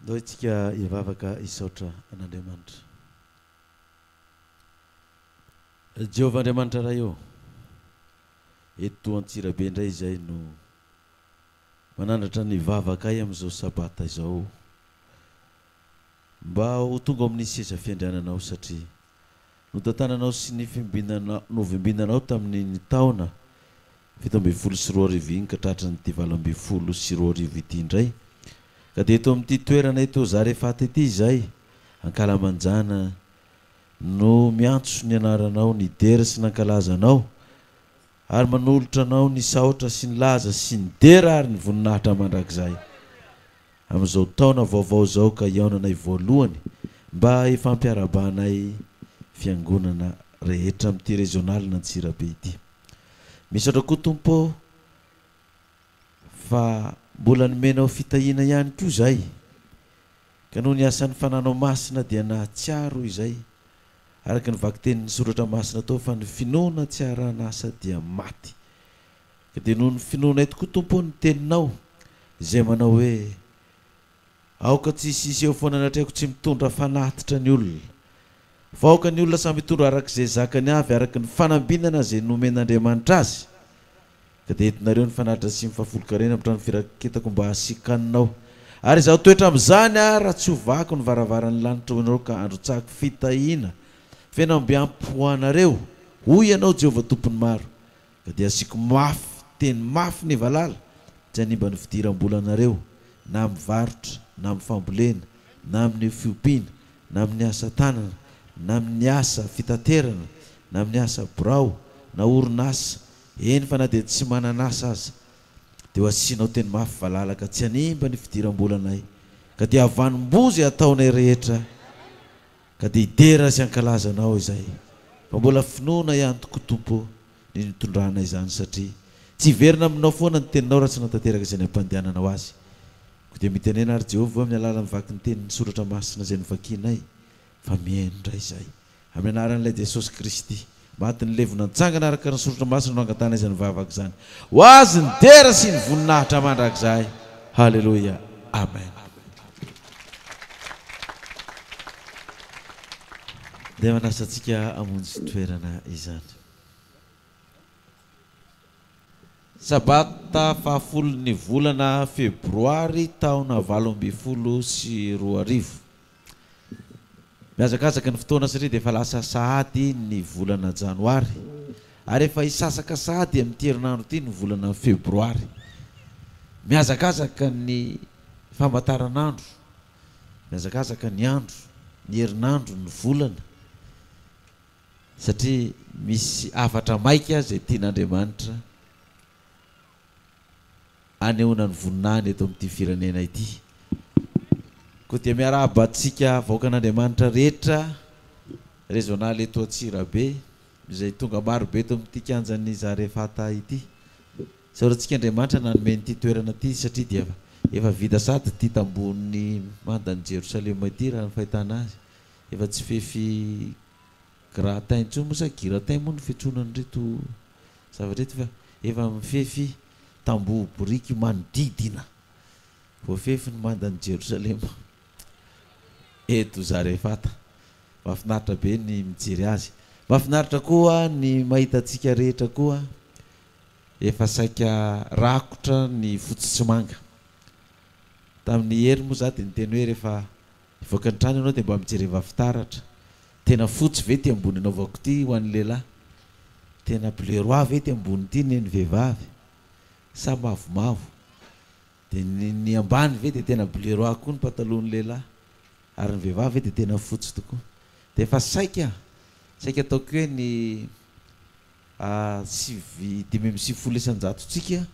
Ndao isika hivavaka hisaotra an'Andriamanitra. Ry Jehovah Andriamanitra Ray ô, eto Antsirabe indray izahay no manandratra ny vavakay amin'izao Sabata izao. Mba ho tonga ao amin'ny seza fiandrianana aho satria notantananao sy novimbinanao tamin'iny taona fito ambin'ny folo sy roa arivo iny ka tratran'ity valo ambin'ny folo sy roa arivo ity indray ka dia eto amin'ity toerana eto Zarefaty ity izahay ankalamanjana no miantso ny anaranao nidera sy nankalaza anao Ary manolotra Anao ny saotra sy ny laza sy ny dera ary ny voninahitra mandrakizay amin'izao taona vaovao izao ka hihaonanay voalohany mba hifampiarahabanay Fiangonana rehetra amin'ity rezionalin'Antsirabe ity. Misaotra koa Tompo ô fa mbola nomenao fitahiana ihany koa izay. Ka noho ny asan'ny fananao masina dia nahatsiaro izay, araka ny vakitenin'ny soratra masina tao fa ny finoana tsy arahan'asa dia maty. Ka dia noho ny finoanay tokoa Tompo ny teninao izay manao hoe, Aoka tsy hisy hiseho foana ny atrehako tsy mitondra fanatitra ny olona, fa aoka ny olona samy hitondra arak'izay zakany avy araka ny fanambinana izay nomen'Andriamanitra azy, Ka dia entinareo ny fanatitra sy ny fahafolonkarena hamitran'ny firaketako mba hasiakanina ao. Ary izaho toetra amin'izany aho raha tsy ho vakiko ny varavaran'ny lanitra ho anareo ka handrotsahako fitahiana feno ambiampy ho anareo, hoy ianao Jehovah Tompon'ny Maro. Ka dia hasiako mafy teny mafy ny valala, tsy hanimba ny fidiram-bolanareo, na amin'ny varotra, na amin'ny fambolena, na amin'ny fiompiana, na amin'ny asa tanana, na amin'ny asa fitaterana, na amin'ny asa birao, na orinasa, Eny fa na dia tsy manana asa aza dia ho asianao teny mafy valala ka tsy hanimba ny fidiram-bolanay ka dia havanom-boa izay hataonay rehetra ka dia hidera sy hankalaza anao izay fa mbola finoana ihany tokoa Tompo ny nitondranay izany satria tsy hiverina aminao foana ny teninao raha tsy hanatanteraka izay nampandehananao azy ko dia mitenena ary Jehovah amin'ny alalan'ny vaky ny teniny soratra masina izay novakianay fa mihaino indray izay Amin'ny anaran'Ilay Jesosy Kristy maty nilevina nitsangana araka ny Soratra Masina no angatahana izany vavaka izany. Ho Azy ny dera sy ny voninahitra mandrakizay. Haleloia. Amen. Dia manasa antsika hamonjy toerana izany. Sabata fahafolon'ny volana Febroary taona valo ambin'ny folo sy roa arivo. Mihazakazaka ny fotoana satria dia efa lasa sahady ny volana janoary ary efa hisasaka sahady amin'ity herinandro ity ny volana febroary. Mihazakazaka ny famantaranandro, mihazakazaka ny andro, ny herinandro, ny volana satria misy hafatra maika izay tian'Andriamanitra. anehoana ny voninahiny eto amin'ity firenena ity. Koa dia miarahaba antsika vahoakan'Andriamanitra rehetra rezonal eto Antsirabe izay tonga marobe eto amin'ity kianjan'ny Zarefata ity. Isaorantsika Andriamanitra nanome an'ity toerana ity satria dia efa vita sady ity tambohon'ny mandan'i Jerosalema ity raha ny fahitana azy. Efa tsy fefy Gratin intsony moa sa giratin moa ny fiantsoana an'ireto zavatra ireto fa efa mifefy tamboho boriky manodidina voafefy ny mandan'i Jerosalema eto Zarefata. Mahafinaritra be ny mijery azy. Mahafinaritra koa ny mahita antsika rehetra koa efa saika rakotra ny fotsy sy manga. Tamin'i Hery moa za dia niteny hoe rehefa Hivoaka ny trano ianao dia mba mijereva fitaratra, tena fotsy ve ity ambony anaovako ity ho an'ny lehilahy? Tena bleu roi ve ity ambony ity ny an'ny vehivavy? Sa mavomavo? Dia ny ny ambany ve dia tena bleu roi koa ny patalohan'ny lehilahy? Ary ny vehivavy ve dia tena fotsy tokoa? Dia efa saika, saika ataoko hoe ny A sivy dimy amby sivifolo isan-jatontsika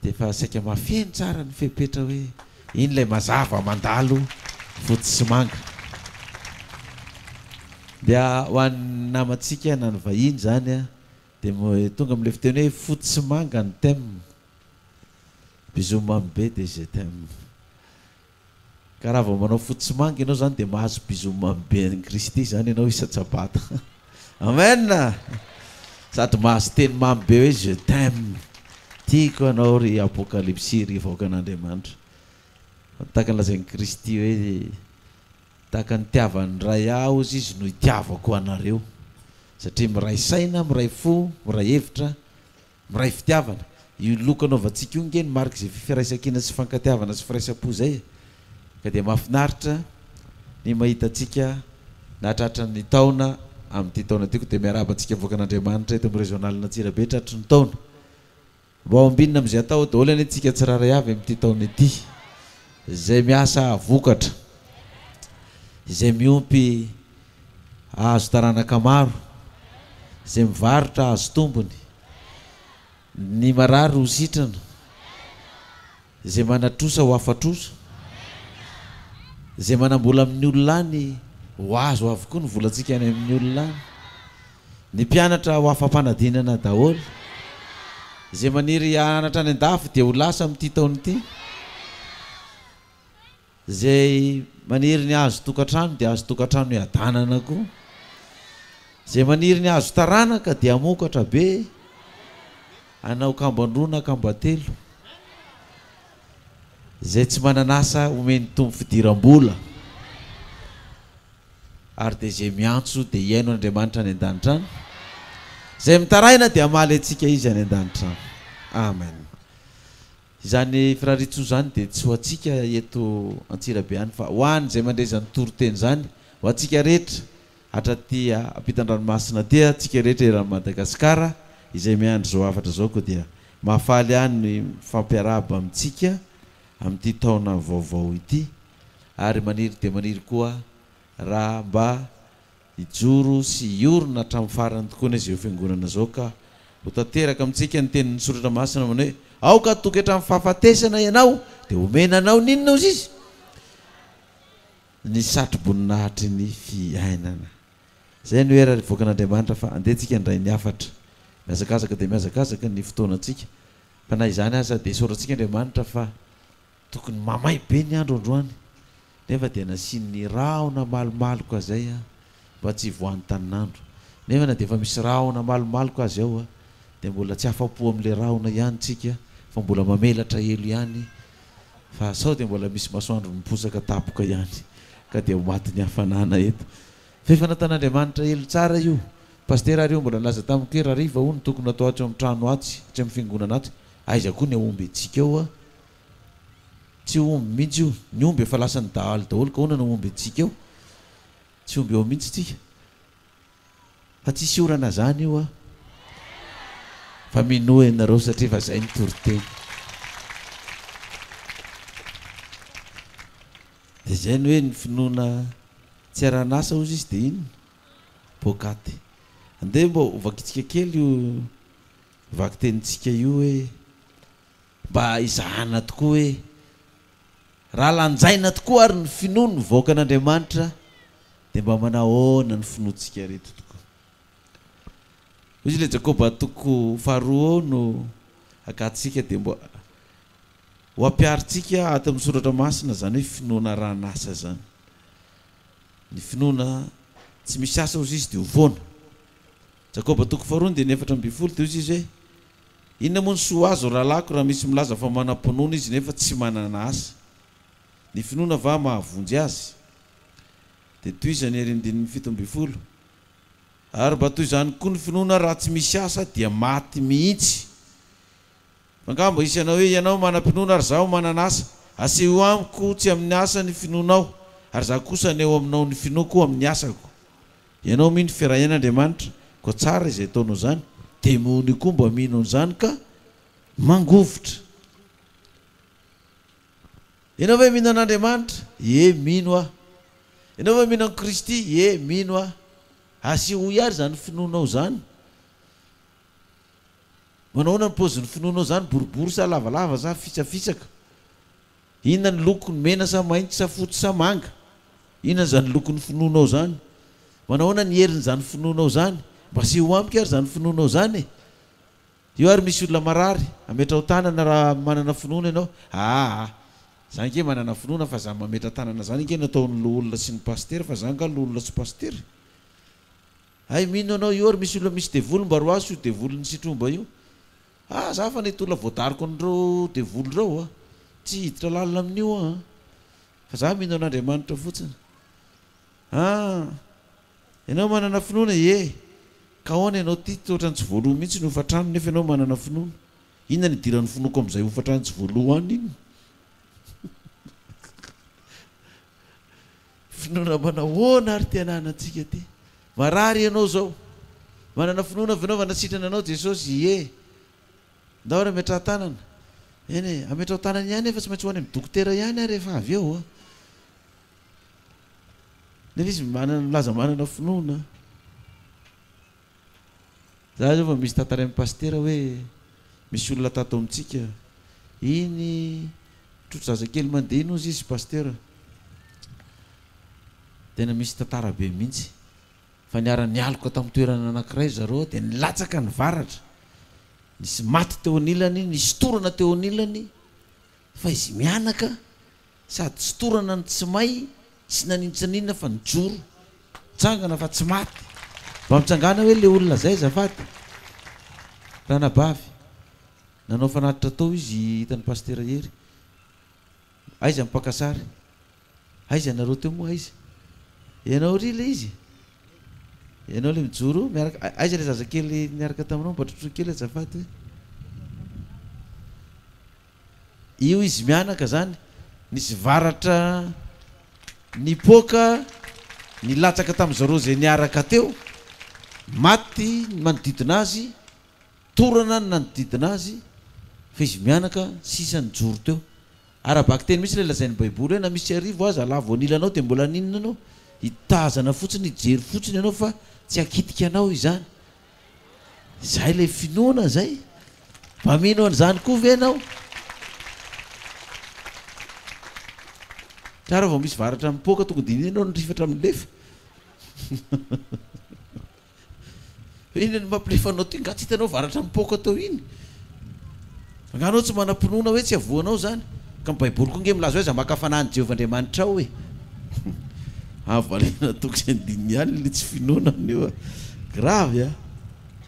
dia efa saika mahafeno tsara ny fepetra hoe iny ilay mazava mandalo fotsy sy manga. Dia ho an'ny namantsika na ny vahiny izany dia tonga amin'ilay fiteny hoe fotsy sy manga ny thème. Bisous mamy be dia je t'aime. Ka raha vao manao fotsy sy manga ianao izany dia mahazo bisous mamy be an'i Kristy izany ianao isan-tsabata. Amen! Sady mahazo teny mamy be hoe Je t'aime. Tiako anao ry Apokalypsy, ry vahoakan'Andriamanitra. Fa tahaka ny lazain'i Kristy hoe Tahaka ny itiavan'ny Ray Ahy hozy Izy no itiavako anareo. Satria miray saina, miray fo, miray hevitra Miray fitiavana. Io loko anaovantsika io nge no mariky izay fiferaisankina sy fifankatiavana sy firaisam-po izay e. Ka dia mahafinaritra ny mahita antsika nahatratra ny taona amin'ity taona ity. Koa dia miarahaba antsika avoakan'Andriamanitra eto amin'ny Régional Antsirabe tratry ny taona. Mba ho ambinina amin'izay atao daholo anie tsika tsirairay avy amin'ity taona ity. Izay miasa hahavokatra. Izay miompy. Hahazo taranaka maro izay mivarotra hahazo tombony. Ny marary ho sitrana, izay manatrosa ho afa-trosa. Izay manam-bola amin'ny olona any ho azo avokoa ny volantsika any amin'ny olona any. Ny mpianatra ho afa-panadinana daholo. Izay maniry hahanatra any an-dafy dia ho lasa amin'ity taona ity. Izay maniry ny hahazo tokantrano dia hahazo tokantrano hiadanana koa. Izay maniry ny hahazo taranaka dia hamokatra be, hanao kamban-droa na kamban-telo. Izay tsy manan'asa homen'ny Tompo fidiram-bola, ary dia izay miantso dia hihaino an'Andriamanitra any an-danitra any. Izay mitaraina dia hamaly antsika Izy any an-danitra any. Amen. Izany firariantsoa izany dia tsy ho antsika eto Antsirabe ihany fa ho an' izay mandre izany toriteny izany, ho antsika rehetra hatraty ampitan-dranomasina aty antsika rehetra eran'i Madagasikara izay miandry izao hafatra izao koa dia mahafaly ahy ny mifampiarahaba amintsika amin'ity taona vaovao ity ary maniry dia maniry koa raha mba Hijoro sy hiorina hatramin'ny farany tokoa anie izao Fiangonana izao ka ho tanteraka amintsika ny tenin'ny Soratra Masina manao hoe, Aoka hatoky hatramin'ny fahafatesana ianao, dia homena anao ny inona hozy Izy? Ny satroboninahitry ny fiainana. Izay no hera hivoakan'Andriamanitra fa andeha tsika handray ny hafatra. Mihazakazaka dia mihazakazaka ny fotoanantsika fa na izany aza dia isaorantsika Andriamanitra fa Tokony mamay be ny andro androany nefa dia nasian'ny rahona malomaloka izay mba tsy hivoahan'ny tanin'andro. Nefa na dia efa misy rahona malomaloka azy ao dia mbola tsy afa-po amin'ilay rahona ihany isika fa mbola mamelatra elo ihany fa sao dia mbola misy masoandro miposaka tapoka ihany ka dia ho matin'ny hafanana eto. Fa efa nataon'Andriamanitra elo tsara io. Pasitera ary io mbola nilaza tamiko hoe rariva hono tokony atao ato amin'ny trano atsy, atsy amin'ny fiangonana atsy. Aiza koa ny aomby antsika ao a! Tsy omby mihitsy io. Ny omby efa lasan'ny dahalo daholo ka ahoana no homby antsika eo? Tsy omby eo mihitsy tsika. Fa tsisy orana zany io ah. Fa minoa ianareo satria efa zay ny toriteny. Dia zay ny hoe ny finoana tsy aran'asa hozy izy dia inona? Poakaty. Andeha mba hovakitsika kely io vakitenintsika io hoe. Mba izahana tokoa hoe, raha lanjaina tokoa ary ny finoa no nivoaka an'Andriamanitra dia mba manahoana ny finoantsika ireto tokoa. Hoy izy ilay Jakoba toko faharoa eo no agatsika dia mba ho ampiharintsika ato amin'ny soratra masina izany hoe finoana arahan'asa izany. Ny finoana tsy misy asa hozy izy dia ho foana. Jakoba toko faharoa andininy efatra ambin'ny folo dia hoy izy hoe, Inona moa ny soa azo rahalahiko raha misy milaza fa manam-pinoana izy nefa tsy manana asa? Ny finoana va mahavonjy azy? Dia tohizany ery ny dini'ny fito ambin'ny folo, Ary mba toy izany koa ny finoana raha tsy misy asa dia maty mihitsy. Fa angaha mba hisy hanao hoe, Ianao manam-pinoana ary izaho manana asa? Asehoy amiko tsy amin'ny asa ny finoanao, ary izaho kosa haneho aminao ny finoako amin'ny asako. Ianao mino firahian Andriamanitra koa tsara izay ataonao izany, demony io koa mba mino an'izany ka mangovitra. Ianao ve mino an'Andriamanitra? Ie mino aho. Ianao ve mino an'i Kristy? Ie mino aho. Asehoy ary izany finoanao izany. Manahoana ny paozin'ny finoanao izany, boribory sa lavalava sa fitsafitsaka? Inona ny lokony, mena sa mainty sa fotsy sa manga? Inona izany lokony finoanao izany? Manahoana ny herin'izany finoanao izany? Mba aseho amiko ary izany finoanao izany e! Eo ary misy olona marary, ametraho tanana raha manana finoana ianao. Aa! Za ange manana finoana fa zany mametra-tanana zany ange no ataon'ny loholona sy ny pasitera fa za nga loholona sy pasitera e! Hay mino anao io ary misy olona misy devoly mba roaso io devolin'i sitromba io ah za fa nety olona voadariko an'ireo devoly ireo ah tsy hiditra lalina amin'io ah fa za mino an'Andriamanitra fotsiny ah ianao manana finoana ie ka ahoana ianao ty otrany tsy voaloha mihitsy ny hofantrano nefa ianao manana finoana inona ny idiran'ny finoako amin'izay hofantrano tsy voaloha any inona Finoana manahoana ary tena anantsika ity? Marary ianao zao? Manana finoana avy ianao fa nasitrana anao Jesosy? Ie. Ndao ary ametraha tanana. Eny e, ametraho tanana ihany efa tsy maintsy ho any amin'ny dokotera ihany ary efa avy eo an. Nefa izy manana milaza manana finoana. Za zao vao misy tantarain'i Pasitera hoe misy olona tato amintsika, iny trotro zazakely mandeha iny ozy izy Pasitera, tena misy tantara be mihitsy fa niara nialoka tamin'ny toerana anankiray ry zareo dia nilatsaka ny varatra, nisy maty teo anilany, nisy torana teo anilany fa izy mianaka Sady tsy torana no tsy may sy naninontsaniona fa nijoro. Nitsangana fa tsy maty. Mba mitsangàna hoe le olona zay azafady. Ranabavy. Nanao fanatitra tao izy hitan'i Pasitera Hery. Aiza ny mpaka sary? Aiza ianareo teo moa aiza? Ianao ry le izy? Ianao le mijoro miaraka aiza le zazakely niaraka taminao mba trotroy kely azafady hoe. Io izy mianaka zany nisy varatra nipoaka nilatsaka tamin'izao roa izay niaraka teo, maty ny manodidina azy, torana ny nanodidina azy, fa izy mianaka sisa nijoro teo. Ara-bakiteny mihitsy ilay lazain'ny Baiboly hoe na misy arivo aza halavo an'ila anao dia mbola haninona anao? Hitazana fotsiny, hijery fotsiny ianao fa tsy hakitika anao izany. Izay ilay finoana izay. Mba mino an'izany koa ve ianao? Tara vao misy varatra mipoaka tonga dia iny ianao no rifatra milefa. Hoe inona no mampilefa anao ty? Nga tsy hitanao varatra mipoaka tao iny? Angaha anao tsy manam-pinoana hoe tsy havoanao izany? Ka ny Baiboly koa ange milaza hoe aza maka fanahin'i Jehovah Andriamanitrao e! Avo valena toko sy andininy ihany ilay tsy finoana amin'io a! Gravy a!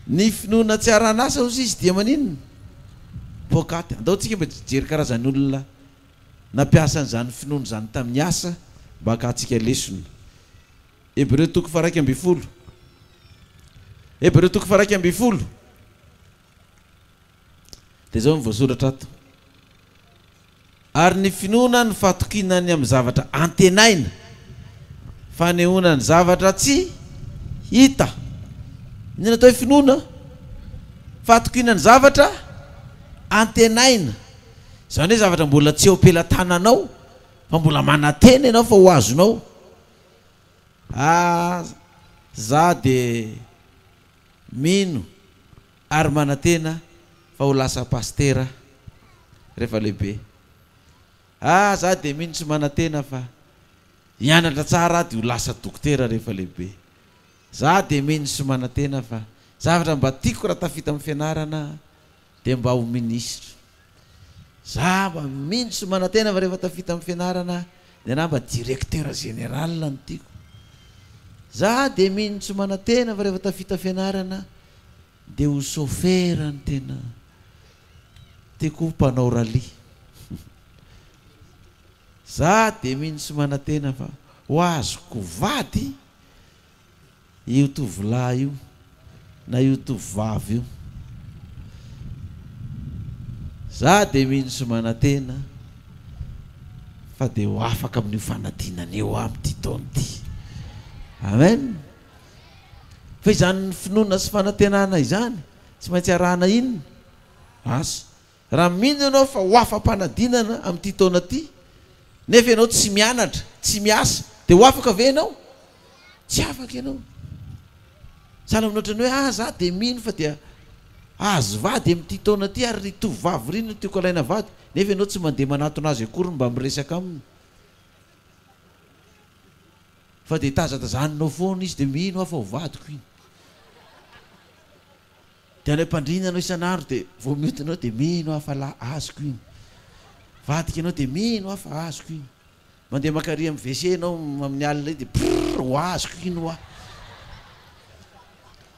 Ny finoana tsy haran'asa hozy izy dia maninona? Poakaty. Andao tsika mba hijery karazan'olona nampiasa an'izany finoana izany tamin'ny asa mba hakahantsika lesona. Hebreo toko faharaika ambin'ny folo. Hebreo toko faharaika ambin'ny folo. Dia izao no voasoratra ato, Ary ny finoana no fatokiana ny amin'ny zavatra antenaina, fanehoana ny zavatra tsy hita. Inona no atao hoe finoana? Fatokiana ny zavatra antenaina. Izany hoe zavatra mbola tsy eo am-pelatananao fa mbola manantena ianao fa ho azonao. Ah, izaho dia mino. ary manantena fa ho lasa pasitera rehefa lehibe. Ah za dia mino sy manantena fa hianatra tsara aho dia ho lasa dokotera rehefa lehibe. Za dia mino sy manantena fa zavatra mba tiako raha tafita amin'ny fianarana dia mba ho minisitra. Zava mintsy manantena fa rehefa tafita am fianarana ny anah mba directeur général no tiako. Za de mintsy manantena fa rehefa tafita fianarana de ho chauffeur no tena tiako ho mpanao rallye. Za de mintsy manantena fa ho azoko vady. Io tovolahy io na io tovovavy io. Za dia mino sy manantena fa dia ho afaka amin'io fanadinana io aho amin'ity taona ity. Amen. Fa izany finoana sy fanantenana izany tsy maintsy arahana inona? Asa. Raha mino ianao fa ho afa-panadinana amin'ity taona ity, nefa ianao tsy mianatra, tsy miasa, dia ho afaka ve ianao? Tsy afaka ianao. Sahala amin'ny ohatran'ny hoe, ah, za dia mino fa dia hahazo vady amin'ity taona ity, ary ry tovovavy ry no tiako alaina vady, nefa ianao tsy mandeha manatona azy akory mba miresaka aminy, fa dia tazatazaninao foana izy, dia mino aho fa ho vadiko iny. Dia ilay mpandrina anao isan'andro dia vao mioty anao dia mino aho fa la azoko iny. Mivadika ianao dia mino aho fa azoko iny. Mandeha mankary amin'ny WC ianao amin'ny alina iny dia prrrr ho azoko iny hoa.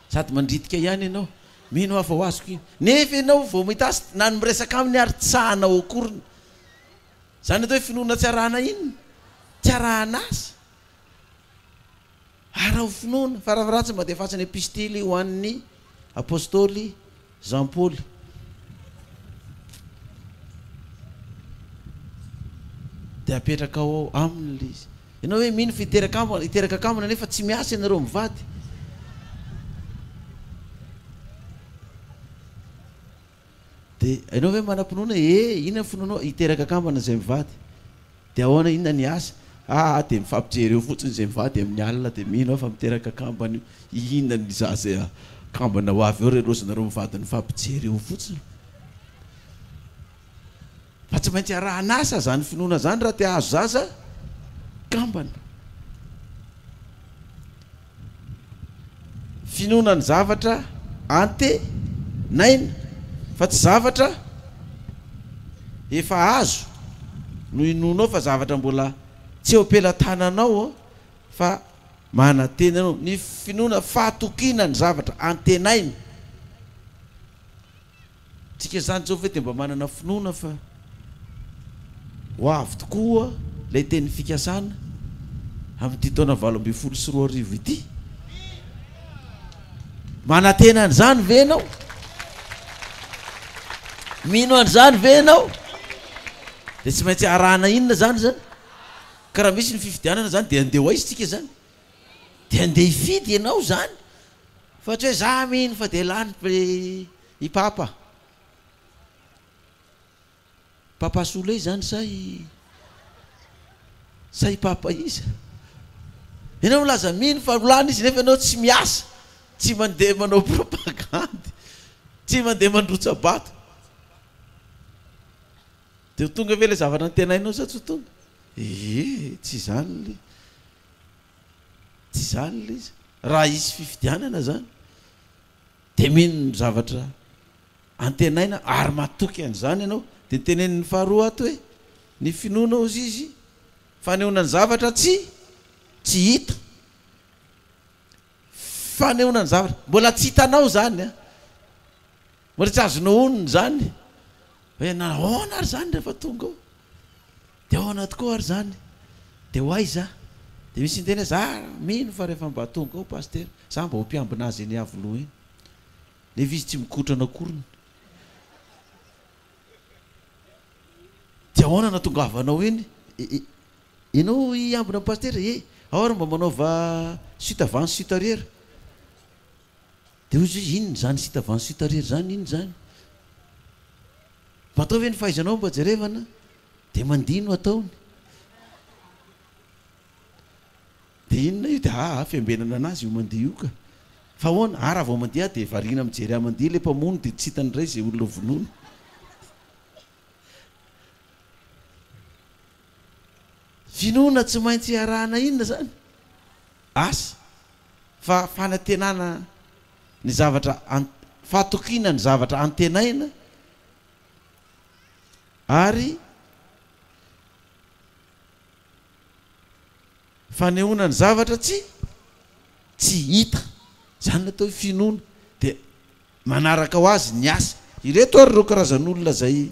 Sady mandritika ihany ianao, mino aho fa ho azoko iny. Nefa ianao vao mahita azy na ny miresaka aminy ary tsy sahanao akoriny. Izany atao hoe finoana tsy arahana inona? Tsy arahana azy. Araho finoana, fa raha ratsy mba defaso ny epistily ho an' ny apostoly Jampoly. Dia apetrakao ao aminy ilay izy. Ianao ve mino fa hiteraka hiteraka kambana nefa tsy miasa ianareo mivady? Dia ianao ve manam-pinoana? Ee, inona ny finoanao? Hiteraka kambana izay mivady. Dia ahoana, inona ny asa? Ah, dia mifampijery eo fotsiny izay mivady amin'ny alina, dia mino aho fa miteraka kambana io. Inona ny za izay kambana ho avy eo, re roa izy nareo mivady nifampijery eo fotsiny? Fa tsy maintsy arahan'asa izany finoana izany raha te hahazo zaza kambana. Finoana ny zavatra antenaina fa tsy zavatra efa azo no inoanao fa zavatra mbola tsy eo am-pelatananao fa manantena ianao. Ny finoana fahatokiana ny zavatra antenaina. Tsika zany zao ve de mba manana finoana fa ho avy tokoa ilay teny fikasana amin'ity taona valo ambin'ny folo sy roa arivo ity? Manantena an'izany ve ianao? Mino an'izany ve ianao? Dia tsy maintsy arahana inona izany izany? Ka raha misy ny fifidianana izany dia andeha ho aiza isika izany? Dia andeha hifidy ianao izany fa tsy hoe za mino fa dia lany I papa. Papa Souley zany sa i sa i papa iza? Ianao milaza mino fa rolana izy nefa ianao tsy miasa, tsy mandeha manao propagandy, tsy mandeha mandrotsa-bato. Dia ho tonga ve ilay zavatra antenainao sa tsy ho tonga? Ee, tsy izany ilay tsy izany ilay izy. Raha hisy fifidianana izany. Dia mino ny zavatra antenaina ary matoky an'izany ianao. Dia ny tenenin'ny faharoa ato hoe, Ny finoana, hozy izy, fanehoana ny zavatra tsy tsy hita. Fanehoana ny zavatra mbola tsy hitanao izany an! Mbola tsy azonao onona izany hoe nahoana ary izany rehefa tonga ao. Dia ao anaty koa ary izany dia ho aiza? Dia misy niteny hoe za mino fa rehefa mba tonga ao Pasitera, za mba ho mpiambina azy eny Iavoloha eny. Nefa izy tsy mikotrana akoriny. Dia ahoana no hatongavanao eny? Ianao hiambina an'i Pasitera? Ee, ao ary mba manaova suite avant sy suite arrière. Dia hoy izy hoe inona izany suite avant sy suite arrière izany, inona izany? Mba ataovy ve ny fahaizanao mba jerevana? Dia mandihy no ataony. Dia inona io? Dia aa fiambenana anazy io mandihy io ka. Fa ahoana? Aa raha vao mandihy aho dia variana mijery ahy mandihy ilay mpamono dia tsy hitany indray izay olona vonoiny. Finoana tsy maintsy iarahana inona izany? Asa. Fa fanantenana ny zavatra, fahatokiana ny zavatra antenaina. ary fanehoana ny zavatra tsy tsy hita, izany no atao hoe finoana, dia manaraka ho azy ny asa. Ireto ary ireo karazan'olona izay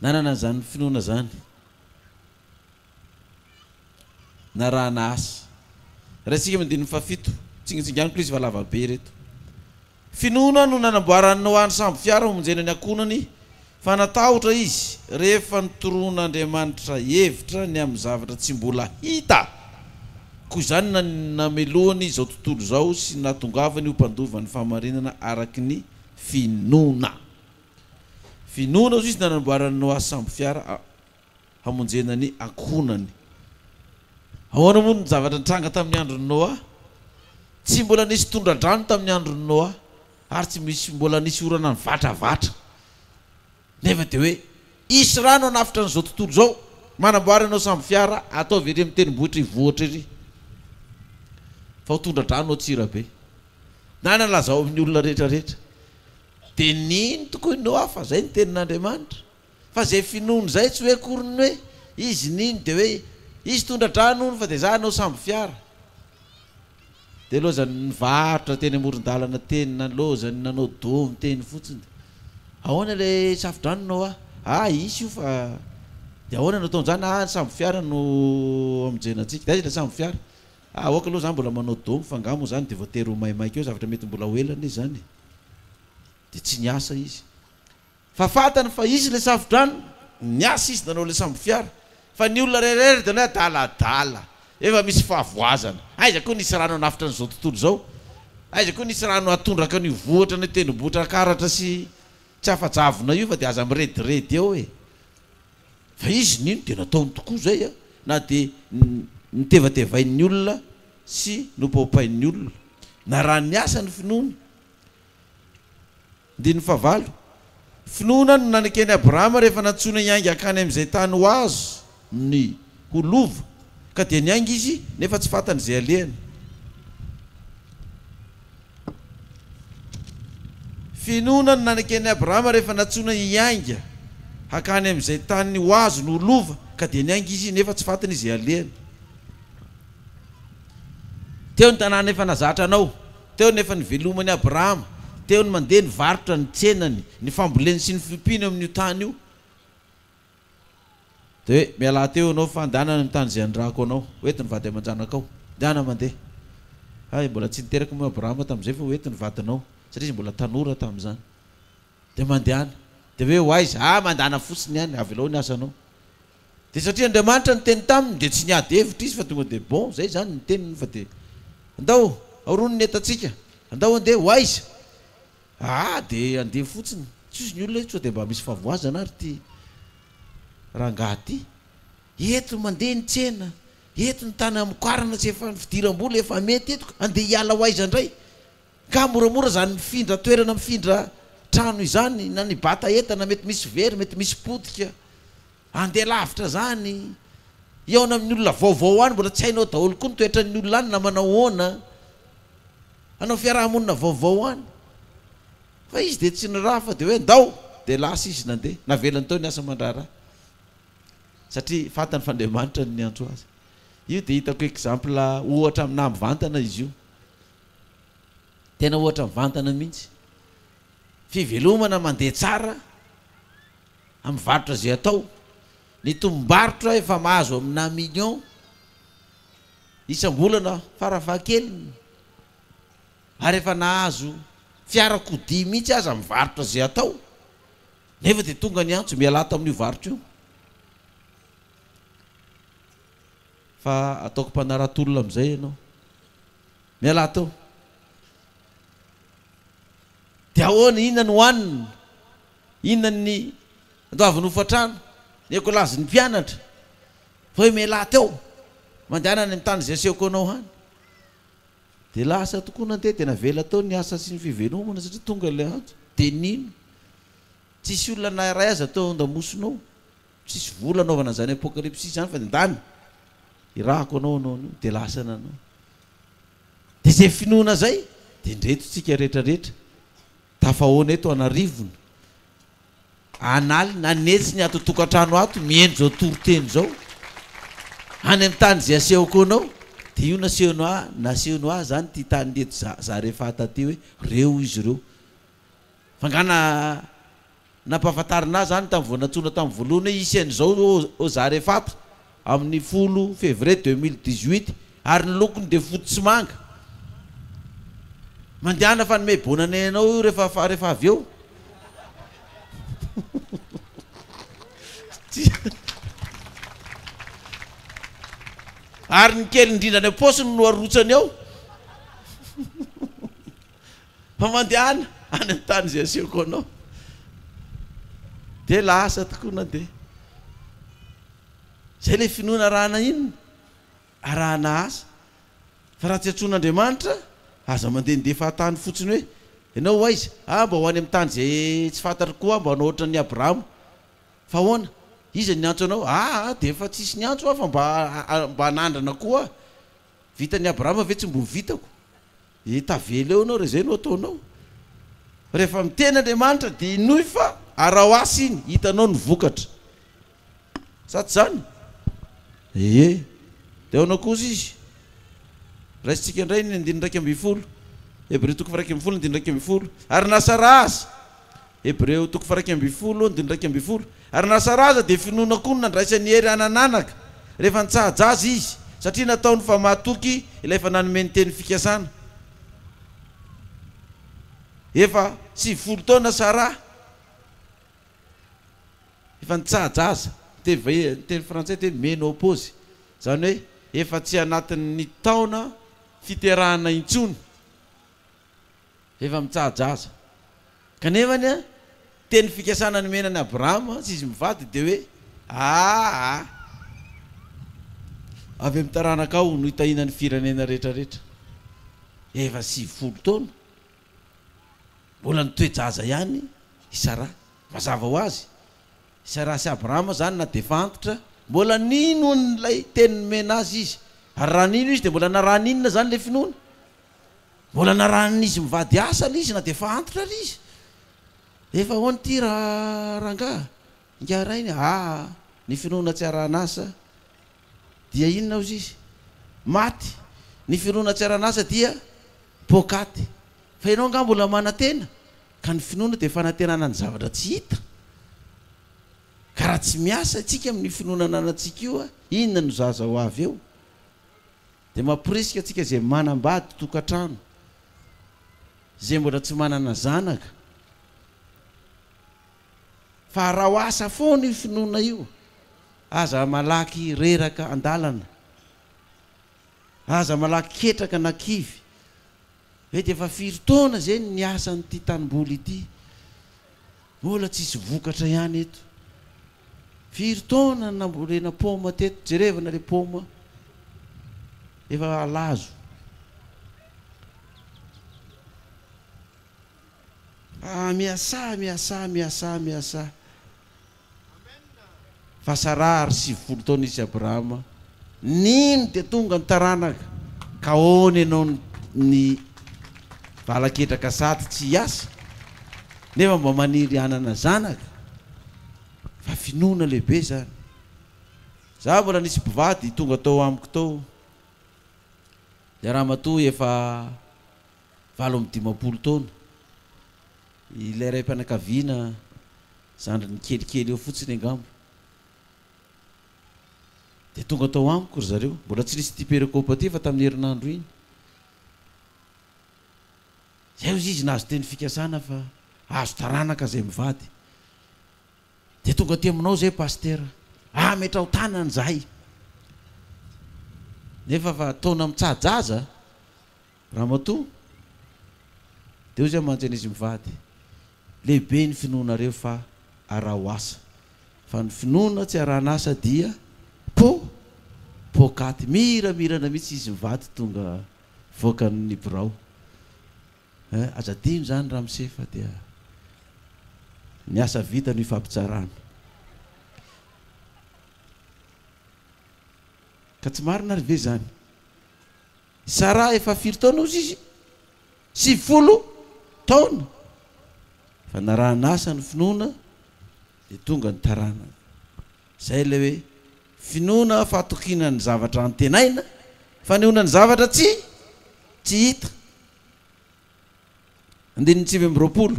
nanana an'izany finoana izany. narahana asa. Raisinga amin'ny andininy fahafito. Tsingintsinganiko ilay izy fa lava be ireto. Finoana no nanamboarany Noany sambo fiara homonjena ny ankohonany fa natahotra izy rehefa notoroan'Andriamanitra hevitra ny amin'ny zavatra tsy mbola hita. Koa izany no namelohany izao tontolo izao sy nahatongavany ho mpandova ny fahamarinana araka ny finoana. Finoana hoy izy no nanamboarany Noa sambo fiara. hamonjena ny ankohonany. Ahoana moa ny zavatra nitranga tamin'ny andron'i Noa? Tsy mbola nisy tondra-drano tamin'ny andron'i Noa, ary tsy misy mbola nisy orana nivatravatra. Nefa dia hoe hisy rano hanafotra an'izao tontolo izao. Manamboara ianao sambo fiara, ataovy ery amin'ny tendrombohitra hivohitra ery, fa ho tondra-drano ao Tsirabe. Na nalazao amin'ny olona rehetrarehetra. Dia nino tokoa i Noa fa izay ny tenin'Andriamanitra. Fa izay finoany izay tsy hoe akory ny hoe izy nino dia hoe izy tondra-drano hono fa dia za anao sambo fiara. Dia lozany nivarotra teny amoron-dalana teny na lozany nanao domy teny fotsiny. Ahoana ilay safo-drano no hoa? Ah hisy io fa dia ahoana no ataon-jany? Ah ny sambo fiara no hamonjena antsika. Dia aiza ilay sambo fiara? Ah aoka aloha za mbola manao domy fa angaha moa izany dia voatery ho maimaika eo zavatra mety mbola ho ela anie izany e. Dia tsy niasa izy. Fa fantany fa izy ilay safo-drano, niasa izy nanao ilay sambofiara, fa ny olona iray iray ary dia hoe adaladala, efa misy fahavoazana, aiza koa nisy rano hanafotra an'izao tontolo izao, aiza koa nisy rano hahatondraka an'io vohitra ny tendrombohitra akaratra sy tsy afa-javona io fa dia aza mirediredy eo e! Fa izy nino dia nataony tokoa izay an! na dia notevatevain'ny olona sy nopaopain'ny olona, na raha niasa ny finoany, Andininy fahavalo, Finoana no naneken'i Abrahama rehefa nantsoina hiainga hankany amin'izay tany ho azo ny ho lova, ka dia niainga izy nefa tsy fantany izay alehany. Finoana no naneken'i Abrahama rehefa nantsoina hiainga hankany amin'izay tany ho azo ny ho lova, ka dia niainga izy nefa tsy fantany izay alehany. Teo ny tanàna efa nazatra anao, teo ny efa niveloman'i Abrahama, teo ny mandeha ny varotra, ny tsenany, ny famboleny sy ny fiompiany eo amin'io tany io. Dia hoe, Mialà teo ianao fa andehana any amin'ny tany izay hanirahako anao. Hoety ny vady aman-janakao, Dehana mandeha. Hay, mbola tsy niteraka moa i Abrahama tamin'izay fa hoety ny vadinao, satria izy mbola tanora tamin'izany. Dia mandehana. Dia hoe ho aiza? Ah, mandehana fotsiny ihany, avelao ny asanao. Dia satria Andriamanitra niteny taminy, dia tsy niady hevitra izy fa tonga dia bon, izay izany ny teniny fa dia, Andao, aorony ny entantsika. Andao handeha. Ho aiza? Ah, dia andeha fotsiny. Tsy hozy ny olona hoe, sao dia mba misy fahavoazana ary ity rangahy ity? Eto mandeha ny tsena, eto ny tany hamokarana tsy efa ny fidiram-bola efa mety eto ka andeha hiala ho aiza indray? Ka moramora izany mifindra toerana mifindra trano izany na ny bata entana mety misy very mety misy potika andeha lavitra zany hihaona amin'ny olona vaovao any mbola tsy hainao daholo koa ny toetran'ny olona any na manao ahoana hanao fiaraha-monina vaovao any fa izy dia tsy niraha fa dia hoe ndao dia lasa izy nandeha navelany teo ny asa aman-draharaha satria fantany fa Andriamanitra no niantso azy io dia hitako exemple ohatra aminà mivantana izy io Tena ohatra vantana mihitsy. Fivelomana mandeha tsara amin'ny varotra izay atao. Ny tombom-barotra efa mahazo aminà millions isam-bolana farafahakeliny, ary efa nahazo fiarakodia mihitsy aza amin'ny varotra izay atao, nefa dia tonga ny antso, mialà ato amin'io varotra io, fa ataoko mpanarato olona amin'izay ianao. Mialà tao. Dia ahoana, inona no hohanina? Inona ny andoavin'ny hofan-trano? Ny ekolazin'ny mpianatra. Fa hoe mialà tao, mandehana any amin'ny tany izay asehoko anao any. Dia lasa tokoa nandeha, dia navela tao ny asa sy ny fivelomana satria tonga ilay antso. Dia nino. Tsisy olona na iray aza tao an-damosina ao. Tsisy vola anaovana an'izany apokalipsisy izany fa ny ndany irahako anao hanao an'io dia lasa nanao. Dia izay finoana izay dia indreto tsika retraretra tafahaona eto an'arivony an'alina an'hetsiny ato an-tokantrano ato mihaino izao toriteny izao any amin'ny tany izay asehoko anao dia io nasehony ahy nasehony ahy izany ity tany ity eto za za rehefa taty hoe reo izy ireo fa nga na Nampahafantarina ahy izany tamin'ny vao nantsoina tamin'ny voalohany hoe hisy an'izao ao Zarefata amin'ny folo février deux mille dix-huit ary ny lokony dia fotsy sy manga. Mandehana fanome bonne année anao io rehefa rehefa avy eo. Ary ny kely indrindra any am-paosiny no arotsany ao. Fa mandehana any amin'ny tany izay asehoko anao, dia lasa tokoa nandeha. Izay ilay finoana arahana inona? Arahana asa. Fa raha tsy antsoin'Andriamanitra, aza mandehandeha fahatany fotsiny hoe, Ianao ho aiza? Ah, mba ho any amin'ny tany izay tsy fantatro koa aho, mba hanao hoatran'i Abrahama. Fa ahoana? Iza no niantso anao? Ah, dia efa tsisy niantso aho fa mba hanandrana koa aho. Vitan'i Abrahama ve tsy mbo vitako? Dia tavela eo ianao raha izay no ataonao. Rehefa miteny Andriamanitra dia hinoy fa araho asa iny, hitanao ny vokatra. Sa tsy izany? Ee. Dia ahoana kosa izy? Raisintsika indray ny andininy iraika ambin'ny folo, Hebreo toko faha-iraika ambin'ny folo andininy iraika ambin'ny folo, Ary nasaraha azy, Hebreo toko faha-iraika ambin'ny folo, andininy iraika ambin'ny folo, Ary nasaraza dia finoana koa no nandraisany hery hanan'anaka, rehefa nitsaha-jaza izy, satria nataony fa mahatoky Ilay efa nanome ny teny fikasana. Efa sivifolo taona Sarah, efa nitsaha-jaza, ny teny vahiny, ny teny frantsay teny menopause, izany hoe efa tsy anatin'ny taona fiterahana intsony. Efa mitsaha-jaza. Kanefa ny teny fikasana nomena an'i Abrahama, tsy izy mivady, dia hoe, Aa! Avy amin'ny taranakao no hitahiana ny firenena rehetrarehetra. Efa sivifolo taona. Mbola nitoe-jaza ihany i Saraha. Mazava ho azy, i Saraha sy Abrahama izany na dia efa antitra, mbola nino an'ilay teny nomena azy izy. Ary raha nino izy, dia mbola naraninona izany ilay finoana? Mbola narahan'izy mivady asany izy na dia efa antitra ary izy. Efa ahoana ity ra rangaha? Ingahy Rainy a! Aa! ny finoana tsy arahan'asa dia inona hozy izy? Maty! Ny finoana tsy arahan'asa dia poakaty! Fa ianao angaha mbola manantena? Ka ny finoana dia fanantenana ny zavatra tsy hita. Ka raha tsy miasa isika amin'io finoana ananantsika io a! Inona no zaza ho avy eo? Dia mamporisika antsika izay manambady tokantrano, izay mbola tsy manana zanaka, fa araho asa foana io finoana io, aza malaky reraka an-dalana, aza malaky ketraka na kivy, Ve dia efa firy taona izay no niasa an'ity tanimboly ity? Mbola tsisy vokatra ihany eto. Firy taona no nambolena paoma teto? Jerevana ilay paoma efa halazo. Ah, miasà, miasà, miasà, miasà. Fasara ary sivifolo taona izy Abrahama nino dia tonga ny taranaka ka ahoana ianao ny valaketraka sady tsy hiasa nefa mba maniry hanana zanaka fa finoana lehibe zany za mbola nisy mpivady tonga tao amiko tao le ramatoa efa valo amby dimampolo taona Ilay raim-panakaviana zandriny kelikely eo fotsiny angamba. Dia tonga tao amiko ry zareo. Mbola tsy nisy ity perekôpa ity fa tamin'ny herinandro iny. Izay hozy izy nahazo teny fikasana fa hahazo taranaka izay mivady. Dia tonga aty aminao izay Pasitera. Ametraho tanana izahay. Nefa fa taona mitsaha-jaza. Ramatoa, Dia hoy zay mantsy an'izy mivady, Lehibe ny finoanareo fa araho asa, fa ny finoana tsy arahan'asa dia po, poakaty. Miramirana mihitsy izy mivady tonga voakan'ny birao. Eh, aza adino izany ramose fa dia ny asa vita no ifampitsarana. Ka tsy marina ary ve izany? Sarah efa firy taona ozy izy? Sivifolo taona! Fa narahan'asa ny finoana dia tonga ny taranany. Izay ilay hoe finoana fahatokiana ny zavatra antenaina, fanehoana ny zavatra tsy tsy hita. Andininy sivy amby roapolo,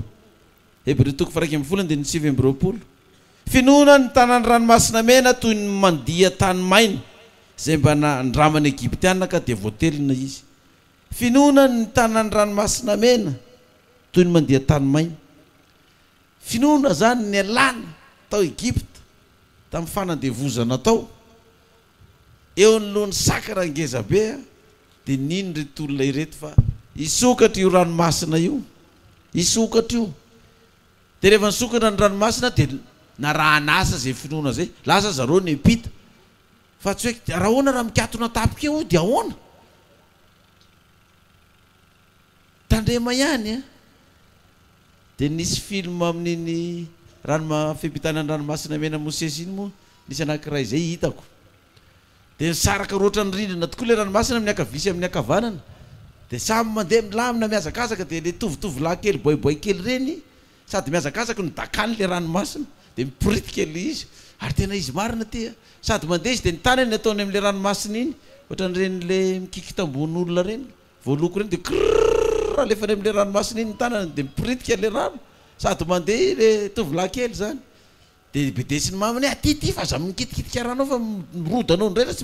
Hebreo toko faha-iraika ambin'ny folo andininy sivy amby roapolo, Finoana ny tanàn'ny Ranomasina Mena toy ny mandia tany maina izay mba nandraman'ny Egyptiana ka dia voatelina izy. Finoana ny tanàn'ny Ranomasina Mena toy ny mandia tany maina. Finoana izany nialana tao Egypta tamin'ny fanandevozana tao. Eo anoloan'ny sakana ngezabe dia nino ireto olona ireto fa hisokatra io ranomasina io, hisokatra io. Dia rehefa nisokatra ny ranomasina dia narahan'asa izay finoana izay, lasa zareo nempita. Fa tsy hoe, raha ahoana raha mikatona an-tapika eo dia ahoana? Tandrema ihany a! Dia nisy film amin'iny ranoma fibitana ny ranomasina mena Mosesy iny moa nisy anankiray izay hitako. Dia nisaraka roatra ny rindrina tokoa ilay ranomasina amin'ny ankavia sy amin'ny ankavanana. Dia samy mandeha milamina mihazakazaka dia ilay tovotovolahy kely boaiboay kely ireny sady mihazakazaka no dakany ilay ranomasina dia miporitika ilay izy. Ary tena izy marina ity a! Sady mandeha izy dia ny tanany ataony amin'ilay ranomasina iny ohatran'ireny ilay mikiky tambon'olona ireny. Voaloko ireny dia krrrrr alefany amin'ilay ranomasina iny ny tanany dia miporitika ilay rano sady mandeha ilay tovolahy kely izany dia bedesiny mamany hoe aty ty fa aza mikitikitika rano ao fa mirodana ao indray fa tsy